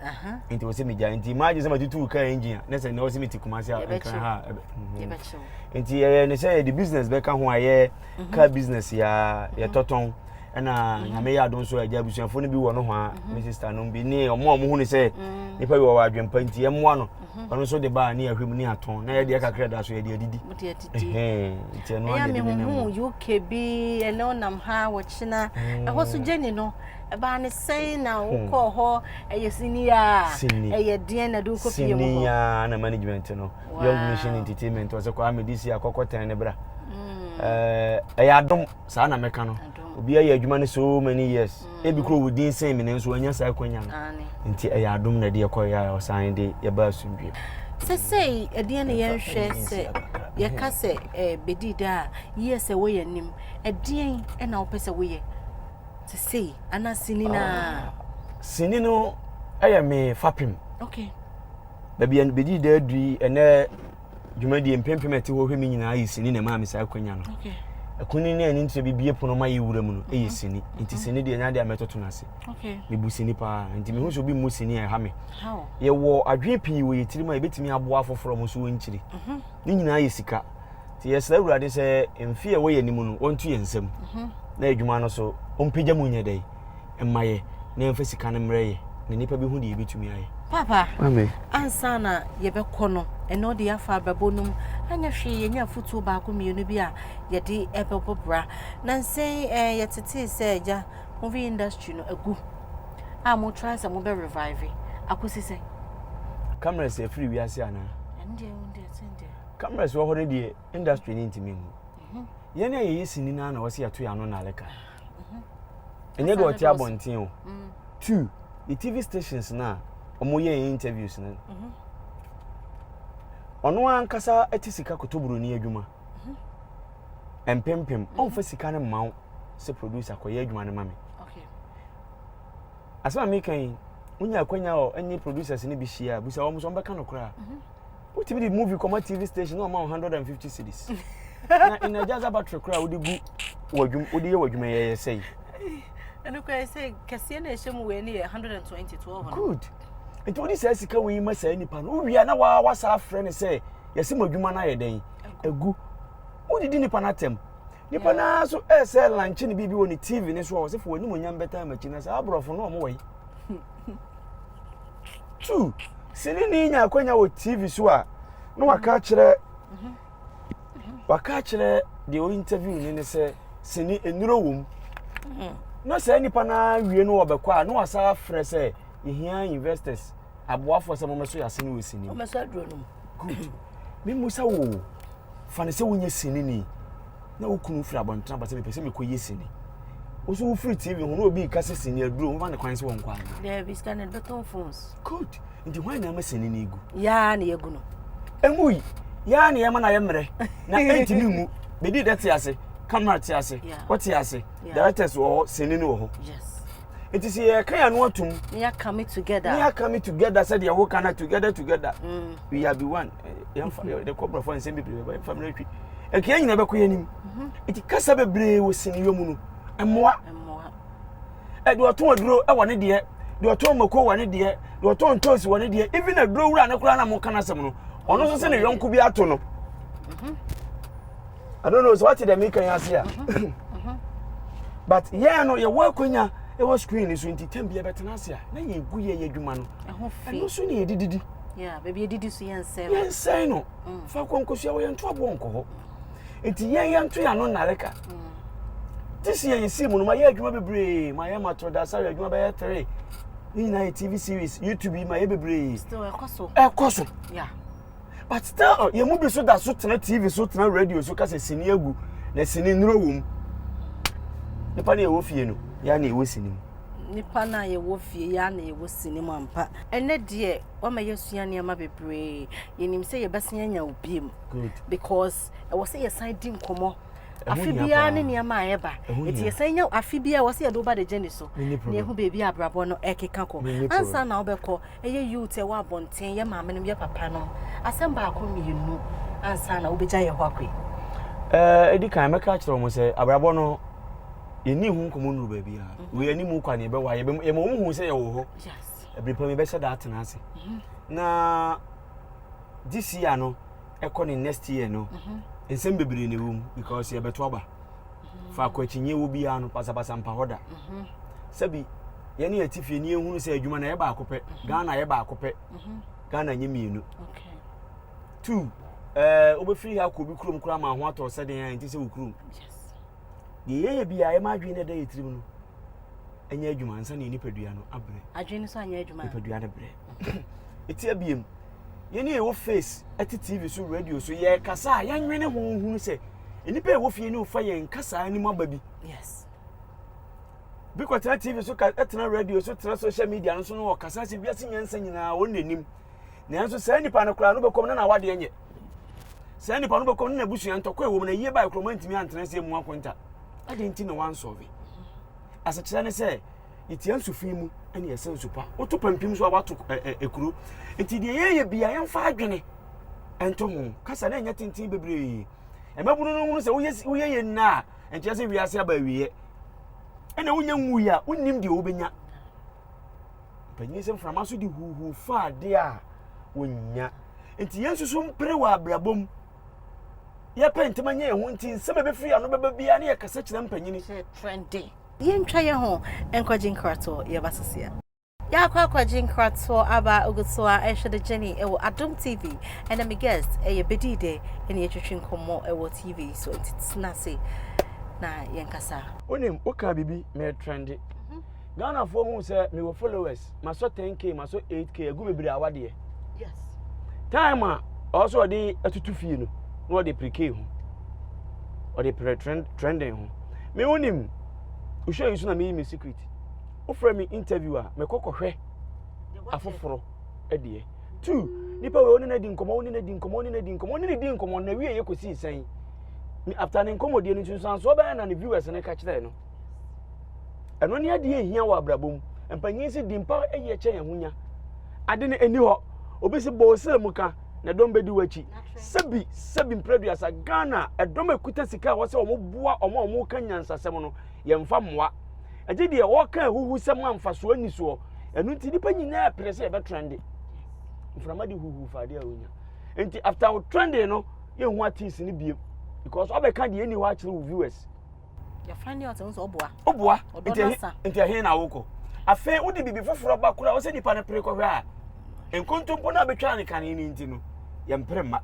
nti wɔsɛ megya nti imagine sɛ matutu kaa engine a na sɛ nnɛ wɔsɛ mete kumase a nkra ha nti yɛyɛ ne sɛ yɛde business bɛka ho a yɛ mhm. car business yɛa mhm. yɛtɔtɔn ɛna mhm. nyame yɛ adom so agya abusuafoɔ no bi wɔ no ho a me sister no bi ne ɔmo a ɔmo hu ne sɛ nipa bi wɔ wɔ adwempa nti ɛmmoa no Ɔno nso de baa ne ahwɛ mu ne atɔn. Na yɛdeɛ kakra da so yɛde adidi. Mode adidi. Nti ɛno ara yɛde ne nam. Ɛyɛ mehuhu UK bi ɛnɛ ɔnam ha wɔkyena. Mm. Ɛhɔ so gyeni no. Ɛbaa ne sɛn na hmm. wokɔɔ hɔ ɛyɛ siniya. Sini. Ɛyɛ deɛn na de wokɔ fie mu hɔ. Siniya na management no. Wow. Young Nation Entertainment ɔsɛ kɔ amedi si akɔkɔ tɛn ne bra. Hmm. Ɛyɛ adom saa na mɛka no. Obi ayɛ adwuma no so many years. Ebi kura wo din sen me nanso wanya saa akwanya no. Nti ɛyɛ adom na ɛde ɛkɔ yɛ a ɔsan de yɛba asomdwe. Sɛsɛi ɛdeɛ na yɛnhwɛ sɛ yɛka sɛ bɛdi da a yɛ sɛ woyɛ nim ɛdeɛn na wopɛ sɛ woyɛ sɛsɛi ana sini no a? Sini no ɛyɛ me fapem. Okay. Baabi a bɛdi da adui ɛnɛ dwumadie mpempem a ɛte hɔ hwɛ me nyinaa yɛ sini na ɛmaa me saa akwanya no ɛkuni ne ɛne nkyerɛ bibie pono ma yɛ wura mu no ɛyɛ sini nti sini deɛ ɛnya deɛ a mɛtoto no ase mebu sini paa nti mehu sɛ obi mmu sini a ɛha me yɛwɔ adwene pii wɔ yɛ tirim a yɛbɛtumi aboa afoforɔ mo nso wɔnkyiri mhm. ne nyinaa yɛ sika nti yɛsrɛ awurade sɛ mfe a ɛwɔ yɛ anim no wɔnto yɛ nsam mhm. na adwuma no so ɔmpagya mu nyɛ dɛn mma yɛ na yɛmfa sika no mmrɛ yɛ na nnipa bi hu deɛ yɛbɛtumi ayɛ. Papa, ansa na yɛbɛkɔ no, ɛnna ɔde yɛafa abɛbɔ no mu. Anyɛ hwee yɛnya afotuo baako mmienu bi a yɛde ɛbɛbɔ bra. Nansɛn eh, yɛtetee sɛ agya movie industry no agu a motra sɛ mobɛ revive akɔsi sɛ cameras afiri wiase anaa cameras wɔ hɔ no deɛ industry no ntumi mu mhm. yɛn a yɛyɛ sini no na wɔse yɛto yɛ ano na aleka mhm. ɛnyɛ deɛ ɔte abɔnten o mm. two the tv stations no a wɔyɛ interviews no mhm. ɔno ankasa te sika kotoburoni adwuma mhm. mpempem ɔmfa sika no mma wo sɛ producer kɔyɛ adwuma no ma me asɛm a meka yi wonya akwanya ɔ ɛne producers no bi hyia a bisa wɔn so wɔbɛka no koraa wotumi de movie kɔma tv station na ɔma wo hundred and fifty cities na energizer battery koraa wode gu wadwum wode yɛ wadwuma yɛ yɛ sɛyi. ɛnu kura yɛ sɛ kɛseɛ na ɛhyɛ mu wei ne yɛ hundred and twenty two ɔhɔ. good nti wode saa sika wei ma saa nipa no wowia na waa wasa afrɛ ne sɛ yɛsi mo adwuma no ayɛ dɛn egu wode di nipa no atɛm nipa no ara so ɛsɛ lankyɛ ne biribi wɔ ne tv ne so a wɔsɛ fo wɔn anim onyam bɛtaa makyi na saa aborɔfo no wɔn wɔ yi. two sini ni nya akwanya wɔ tv so a na waka akyerɛ waka akyerɛ deɛ ɔyɛ interview ni ne sɛ sini nnuro wɔ mu na saa nipa no awie no wɔbɛkɔ a na wasa afrɛ sɛ yɛhia investors aboafoɔ sɛ mɔmɛso yɛ ase no wɔ sini good memu sɛ wo fa ne sɛ wonyɛ sini ni na wo kunu firi abɔntene aba sɛ mepɛ sɛ mekɔyɛ sini wo so wofiri tv ho na obi reka sɛ sini aduro wofa ne kwan sɛ wɔnkɔ anaa daabi sika no bɛtɔn phones good nti hwan na ama sini no ɛgu yaa na yɛgu no ɛmu yi yaa na yɛma no ayɛ mmerɛ na ɛntumi ngu bɛdi dɛ te ase camera te ase wɔte ase directors wɔ hɔ sini no wɔ hɔ nti sɛ yɛka yɛ ano atom ne yɛaka me together ne yɛaka me together sɛdeɛ woka no together together mm. we are be one yɛmfa yɛde kɔ borɔfo nsɛm bebree bɛba yɛmfa mmerɛ twi ɛkea nyina bɛkɔ yɛ anim ɛti kasa bebree wɔ siniyɔ mu no mmoa ɛde ɔtɔn aduro wɔ ne deɛ deɛ ɔtɔn mako wɔ ne deɛ deɛ ɔtɔn ntoosi wɔ ne deɛ even aduro wura ne koraa na mo ka no asɛm no ɔno nso sɛ ne yɔnko bi ato no I don't know so wate dɛ meka yi ase a but yɛn no yɛwɔ akwanya ɛwɔ screen so nti tam bi yɛbɛtena ase a na yɛgu yɛ yɛ adwuma no ɛno so ne yɛdididi yɛnsɛe no mm. fa kwankosua wɔ yɛnto aboɔ nkɔ hɔ nti yɛn yɛnto yɛ ano nnare ka mm. te si yɛ yɛsii mu no mayɛ adwuma bebree mayɛ matoro da sare adwuma bɛyɛ tere ne nyinaa yɛ tv series youtube yi mayɛ bebree ɛkɔ so but still uh, yɛn mu bi so da so tena tv so tena radio so kasa sini agu na sini nnuro wɔ mu nipa na yɛwɔ fie no yɛa na yɛwɔ sini mu nipa na yɛwɔ fie yɛa na yɛwɔ sini mu ampa Ɛnnɛ deɛ wama yɛasua nneɛma bebree. Yɛnim sɛ yɛbɛsan anya wo biom because ɛwɔ sɛ yɛsan di nkɔmmɔ afe biara ne nneɛma a ɛba nti yɛsan nya afe biara ɛwɔ sɛ yɛde woba de gye ne so na ɛhu baabi a abrabɔ no ɛkeka kɔ ansa na wobɛkɔ ɛyɛ youth ɛwɔ abɔnten yɛ maame nom yɛ papa nom asɛm baako mmienu ansa na wobɛgya yɛ hɔ akɔi ɛdi kan mɛka kyerɛ wɔn sɛ abrabɔ no yɛni ho nkɔmmɔ nnuru baabi a wei anim kwa ne yɛbɛwa yɛma wɔn hu sɛ yɛwɔ hɔ ɛbere pa mebɛhyɛ da atena ase mhm. na this year no ɛkɔ ne next year no mhm. nsɛm bebree na ɛwɔ mu because yɛbɛto aba mhm. faako akyinyeɛ wɔ biara no pasapasa mpa hɔ da sɛbi yɛne yɛte fie ne yɛhunu sɛ adwuma no ɛyɛ baako pɛ ghana yɛ baako pɛ ghana nyɛ mmienu two ɛɛ wobɛfiri ha kɔ obi kurom koraa ma ho atɔ sɛdeɛ ɛnti sɛ wo kurom deɛ yɛyɛ biara yɛma adwene no ɛda yɛ tirim no ɛnyɛ adwuma ansa na nipadua no abrɛ adwene no so anyɛ adwuma nipadua no brɛ ɛti abiem yɛne ɛwɔ face ɛte tv so radio so yɛkasa a yɛnwene ho hunu sɛ nnipa ɛwɔ fie ne wofa yɛn kasaa anim aba bi yes bi kɔtena tv so ɛtena radio so tena social media no so no ɔkasa sɛ wiase nyansa nyinaa wɔn n'anim Nanso saa nipa no koraa no bɛkɔm na n'awadeɛ nyɛ. Saa nipa no bɛkɔm na n'abusua ntɔkwa ɛwɔ mu na yie bae kuroma ntumi antena ase emu akonta. Adɛn nti na wansɔve? Asekyerɛ ne sɛ yɛtia nsu fi mu ɛne yɛsɛ nsu pa. Woto pampim so a wato ekuro. Nti deɛ yɛyɛ bia yɛmfa adwene ɛnto ho. Kasa na ɛnyɛ tenten bebree. Ɛmɛbunu no hunu sɛ woyɛ yɛ nna a nkyerɛ sɛ wiase aba awieɛ. Ɛna wonya nwui a wonnim deɛ wobɛnya. Mpanyin sɛ mframa so de huuhuu fa ade a wonnya. Nti yɛn nso so mpere wɔ abrabɔ mu. Yɛpɛ ntɛm nyɛ yɛn ho nti nsɛm a ebefiri ano bɛba biara ne yɛkasa kyerɛ mpanyin. Kyerɛkyerɛde. Yɛntwa yɛn ho nkɔgye nkratoɔ, yɛba Sosia. Yɛakɔ akɔgye nkratoɔ aba ogu so a ɛhwɛ de Jenny wɔ Adom TV ɛna me guest ɛyɛ bɛdii dɛ ɛne yɛtwetwe nkɔmmɔ ɛwɔ TV so nti tena ase na yɛnkasa. Wonim wokaa biribi meretrɛnde. Mm-hmm. Ghana foɔ hu sɛ me wɔ followers ma sɔ 10k ma sɔ 8k agu bebree awa deɛ time a ɔwɔ sɛ ɔde atutu fie no na ɔde pere k ho ɔde pere trending ho me wo nim wohwɛ yi so na meyi me secret wofrɛ me interview a mekɔ kɔhwɛ afoforɔ deɛ two nipa wei ɔne no adi nkɔmɔ ɔne no adi nkɔmɔ ɔne no adi nkɔmɔ ɔne no di nkɔmɔ na wie yɛ kɔsi nsɛn after ne nkɔmɔdie no nso nsansoɔ bɛyɛ na ne viewers no ka kyerɛ no ɛno ne adeɛ ɛhia wɔ abrabɔ mu mpanyin si di mpa ɛyɛ kyɛn ɛho nya ade no ɛni hɔ obi si bɔ ɔsɛ mu ka na ɛdɔm bɛdi w'akyi sɛbi sɛbi mprɛduasa ghana ɛdɔm ɛkuta sika a wɔsɛ wɔn boa wɔn a wɔn ka nyansasɛm no yɛmfa mmoa ɛgye deɛ wɔka ahuhu sɛm a mfasoɔ ni soɔ ɛno nti nipa nyinaa pere sɛ ɛbɛtrɛnde mframa de huhu fa adeɛ a wonya nti after wo trending no yɛhu atis no biem because ɔbɛka deɛ ɛni hɔ akyerɛ wo viewers woboa nti ɛhe na wokɔ afei wode biribi foforɔ ba kora wo sɛ nnipa no pere kɔhwɛ a nkontompo no a bɛtwaa ne kane no nti no yɛmpere mma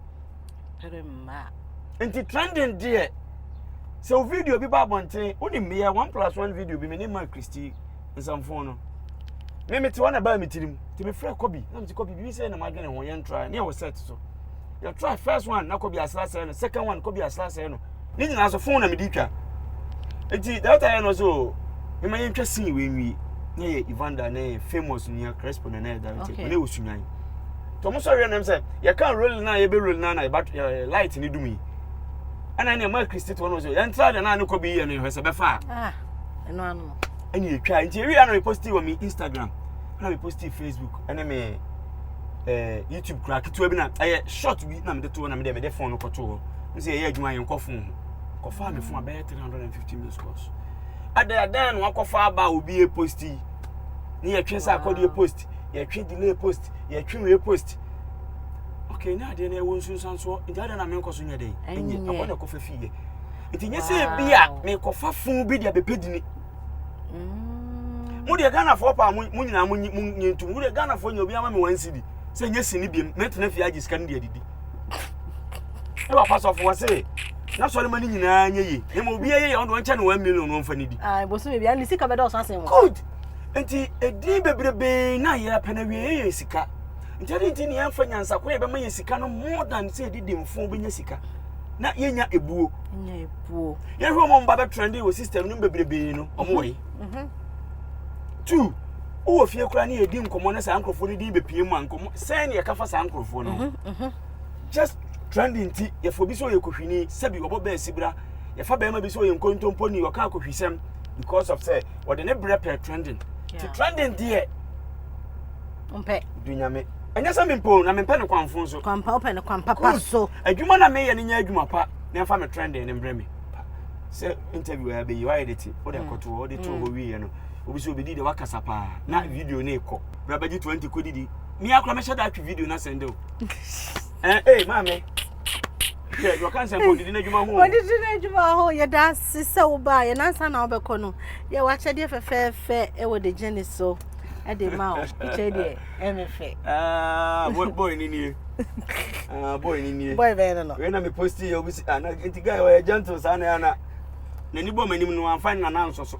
nti trending deɛ sɛ wo video bi ba abɔnten wonim meyɛ one plus one video bi mene ma christy nsamfo no me mete hɔ na baa me tirim nti mefrɛ kɔbi na mete kɔbi biribi sɛ na madwene ho yɛntra ne ɛwɔ set so yɛtra first one na kɔbi asra sɛe no second one kɔbi asra sɛe no ne nyinaa so fon na mede twa nti data yɛ no so mema yɛntwa sin wei nwie na yɛ evander ne famous nua crespo na na yɛ director okay. ne wɔ sunyan nti ɔmo sɔre nam sɛ yɛka role no a yɛbɛ role no a na yɛba light ne dum yi ɛna ne ɛma kristi to ɔno so yɛntra deɛ na ne kɔ bi yɛ no yɛhwɛ sɛ bɛfa a ah, ɛno ano ɛne yɛtwa nti ɛwie a na meposti wɔ me instagram na meposti facebook ɛne me eh, youtube koraa ketewa bi na ɛyɛ short bi na mede to hɔ na mede mede phone no kɔto hɔ ne sɛ yɛyɛ adwuma yɛn nkɔ fon ho kɔfaa me fon a bɛyɛ 350 minutes course ɛdɛ ɛdɛn na wakɔfa aba a obi yɛ post yi ne yɛtwe sɛ akɔdeɛ post yɛtwe delay post yɛtwe wei post okay na adeɛ no ɛwɔ nsunsuansoɔ nti adeɛ na menkɔ so nyɛ dɛn ɛnyɛ ɛhɔ na ɛkɔfa fii yɛ nti nyɛ sɛ ebi a mekɔfa fon bi de abɛpɛ dini mm. mo deɛ ghanafoɔ paa mo nyinaa mo nyɛ ntom wo deɛ ghanafoɔ nyɛ obi ama me wansidi sɛ nyɛ sini biam mɛtena fie agye sika no de adidi ne wɔ pasɔfo wɔ se na sɔre ma ne nyinaa nyɛ yie na ma obi ayɛ yɛ ɔno ɔnkyɛ no one million wɔn fa ne di. Ah, bosom ebi ani sika bɛda ɔsan sen wɔn. good nti edin bebrebe na yɛ apɛ na wie yɛ yɛ sika nti ɛdi nti ne yɛn fa nyansa ko yɛ bɛma yɛ sika no more than sɛ yɛde di mfo bɛnya sika na yɛnya ebuo. nya ebuo. yɛhwɛ wɔn mba bɛ trendy wɔ system no bebrebe no wɔn wɔ yi. Mhm, mhm. two. Wowɔ fie koraa ne yɛdi nkɔmmɔ ne saa nkurɔfoɔ no din bɛpie mu a nkɔmmɔ sɛn ne yɛka fa saa nkurɔfoɔ no ho mhm, mhm. just trending nti yɛfa obi sɛ ɔyɛ kohwini sɛbi ɔbɔ bɛɛ sibra yɛfa bɛrima bi sɛ ɔyɛ nkontompo ni ɔka akohwisɛm because of sɛ ɔde ne berɛ pɛ trending ti trending deɛ mpɛ dunyame ɛnyɛ sɛ mempɛ na mempɛ no kwamfo nso kwampa wopɛ no kwampapa so adwuma na meyɛ no nyɛ adwuma pa na ɛmfa me trending ne mbrɛ me sɛ interview a bɛyi wayɛ de te wode mm. akɔtoɔ wode too hɔ mm. wieɛ no Obi sɛ obedi de wakasa paa na mm. video no ekɔ. Bra bɛgye 20 kɔ didi. Me akora mɛhyɛ da atwe video no asɛn dɛ o. Eh eh maame. Hwɛ dɔ kansa bɔ didi n'adwuma ho. Odidi n'adwuma ho yɛ da ase sɛ wo ba yɛ nansa na wobɛkɔ no. Yɛ wakyɛdeɛ fɛfɛɛfɛ ɛwɔ de gyene so. Ɛde ma o. Kyɛ deɛ ɛmɛ fɛ. Ah boy boy ni nie. Ah boy ni nie. Boy bɛyɛ no no. Wei na me post yɛ obi si ah na nti guy ɔyɛ gentle saa na yɛ ana. N'ani bɔ m'anim no amfa ne nana nsɔ so.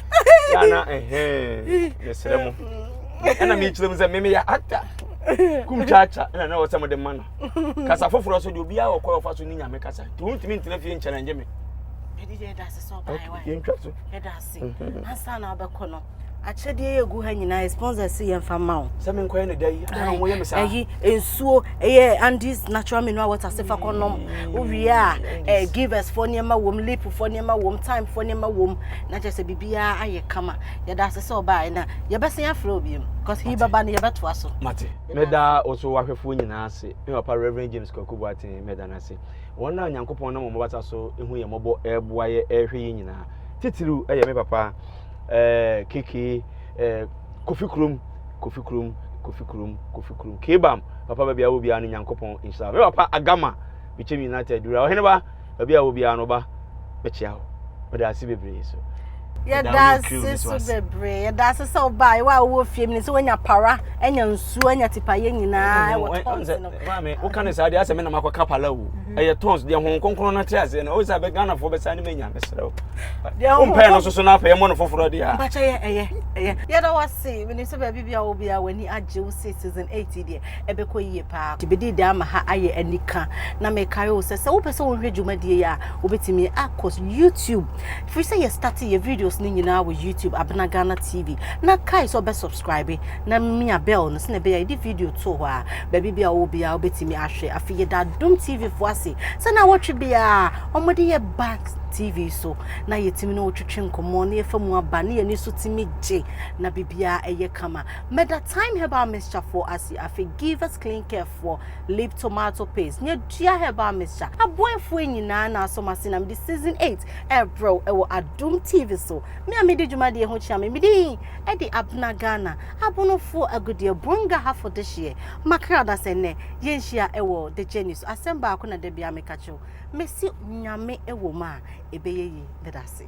yɛ na ɛhɛn mesrɛ mo ɛna mekyerɛ mu sɛ memeyɛ actor kum kyaakya ɛna na wɔsɛ mode ma no kasa foforɔ so deɛ obiaa wɔkɔ ɔfa so ne nyame kasa nti wontumi ntena fie nkyɛne ngye me yɛntwa so ansa na wobɛkɔ no akyɛdeɛ yɛ gu ha nyinaa sponsors yɛmfa ma wo sɛ menkɔyɛ ne da yi woyɛ me saa ayi nsuo ɛyɛ andis natural mineral water se fa kɔnom wowie a eh, givers foɔ nneɛma wom lip foɔ nneɛma wom time foɔ nneɛma wom Na kyerɛ sɛ biribiara ayɛ kama. Yɛda ase sɛ ɔbaa na yɛbɛsen afrɛ wo biom because he bɛba no yɛbɛtoa so. Mate. Meda wo so wahwɛfoɔ nyinaa ase. Me papa Reverend James Kwaku Boateng meda no ase. Wɔn a Nyankopɔn nam wɔn basa so hu yɛn mmɔbɔ ɛreboa yɛ ɛrehwɛ yɛn nyinaa. Titiriw ɛyɛ me papa ɛɛ keke ɛɛ Kofi Kurom Kofi Kurom Kofi Kurom Kofi Kurom Kebam papa baabi a wɔ biara no Nyankopɔn nhyira. Me papa Agama Bikyem United Wura Ɔheneba baabi a wɔ biara no ba bɛkyia wo meda ase bebree so yɛda ase so bebree yɛda ase sɛ ɔbaa yɛwɔ a wowɔ fie mu ne sɛ woanya para anya nsuo anya tipayɛ nyinaa ɛwɔ tɔns no maame woka ne saa deɛ asɛ me nam akɔka pala o mhm. ɛyɛ tɔns deɛ ho kronkron no te aseɛ no wo sɛ ghanafoɔ bɛsa ne manya mesrɛ wo wompɛɛ no soso no apɛ yɛmmɔ no foforɔ deɛ a yɛda wo ase menim sɛ baabi bia wo bia w'ani agye wo se season 8 deɛ ɛbɛkɔ yie paa. Gyebedii de ama ha ayɛ anika na mekare wo sɛ sɛ wopɛ sɛ wohwɛ dwumadie a wobɛtumi akɔ YouTube firi sɛ yɛ starte yɛ videos no nyinaa wɔ YouTube Abena Ghana TV na kae sɛ ɔbɛ subscribe na mia bell no sɛnɛ bɛyɛ yɛde video too hɔ a baabi bia wowɔ biara wobɛtumi ahwɛ afei yɛda Adom TV fo ase sɛ na wɔtwe biara wɔde yɛ back TV so na yɛtumi no wotwetwe nkɔmmɔ na yɛfa mu aba ne yɛne so tumi gye na biribiara ɛyɛ kama Meda Time Herbal Mixture foɔ ase, afei Givers Clean Care foɔ, Lip Tomato Paste, ne Adua Herbal Mixture. Aboafoɔ nyinaa na asɔ m'ase na mede Season 8 ɛrebrɛ wo ɛwɔ Adom TV so. Me a medi dwumadie ho kyea me, medin ɛde Abena Ghana, Abonofoɔ Agudeɛ, Bonga Hafo Dehyeɛ, Makra na sɛ nnɛ yɛnhyia ɛwɔ The Journey so, asɛm baako na da biara meka kyerɛ wo, mese Nyame ɛwɔ mu a, ɛbɛyɛ yie. Meda ase.